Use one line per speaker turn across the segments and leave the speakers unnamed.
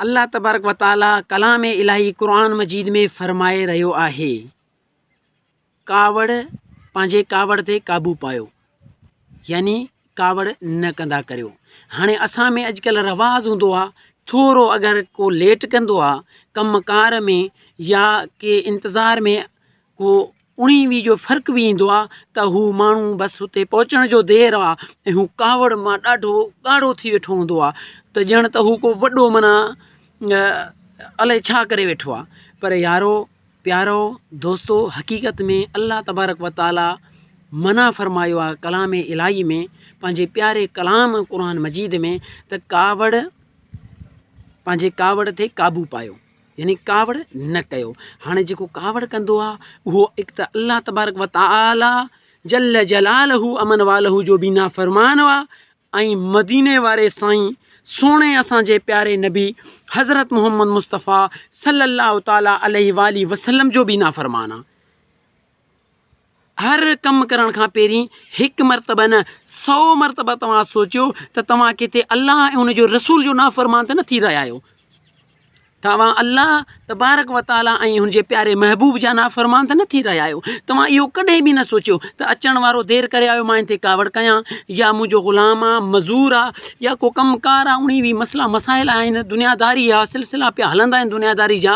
الله تبارڪ و تعاليٰ ڪلام الاهي قرآن مجيد ۾ فرمائي رهيو آهي ڪاوڙ پنهنجي ڪاوڙ تي قابو پايو يعني ڪاوڙ نه ڪندا ڪريو هاڻي اسان ۾ اڄڪلهه رواز هوندو آهي ٿورو اگر ڪو ليٽ ڪندو آهي ڪم ڪار ۾ يا ڪي انتظار ۾ ڪو انهيء ويء جو فرق به ايندو آ ته هو ماڻهو بس اتي پهچڻ جو دير آ ۽ هو ڪاوڙ مان ڏاڍو ڳاڙهو ٿي ويٺو هوندو آ ته ڄڻ ته هو ڪو وڏو معنيٰ الائي ڇا ڪري ويٺو آ پر يارو پيارو دوستو حقيقت ۾ الله تبارڪ و تعاليٰ منع فرمايو آ ڪلام الاهي ۾ پنهنجي پياري ڪلام قرآن مجيد ۾ ته ڪاوڙ پنهنجي ڪاوڙ تي قابو پايو يعني ڪاوڙ نه ڪيو. هاڻي جيڪو ڪاوڙ ڪندو آهي اهو هڪ ته الله تبارڪ و تعاليٰ جل جلاله امن واله جو به نافرمان آهي ۽ مديني واري سائين سهڻي اسان جي پياري نبي حضرت محمد مصطفٰي صلّي الله تعالٰي عليه واٰله وسلّم جو به نافرمان آهي. هر ڪم ڪرڻ کان پهرين هڪ مرتبه نه سؤ مرتبه توهان سوچيو ته توهان ڪٿي الله ۽ ان جي رسول جو نافرمان ته نه ٿي رهيا آهيو. توهان الله تبارڪ و تعاليٰ ۽ هن جي پياري محبوب جا نافرمان ته نه ٿي رهيا آهيو. توهان اهو ڪڏهن به نه سوچيو ته اچڻ وارو دير ڪري آيو مان ان تي ڪاوڙ ڪيان يا منهنجو غلام آ، مزور آ يا ڪو ڪم ڪار آ انهي وي مسئلا مسائل آهن دنياداري آ سلسلا پيا هلندا آهن دنياداري جا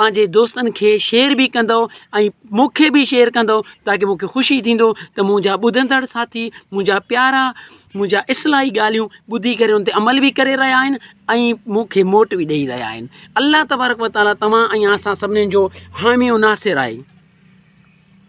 پنهنجي دوستن کي شيئر به ڪندو ۽ مونکي به شيئر ڪندو تاڪي مونکي خوشي ٿيندو ته منهنجا ٻڌندڙ ساٿي منهنجا پيارا منهنجا اصلاحي ڳالهيون ٻڌي ڪري ان تي عمل به ڪري رهيا آهن ۽ مونکي موٽ به ڏئي رهيا آهن الله تبارڪ وتعالي توهان ۽ اسان سڀني جو حامي و ناصر آهي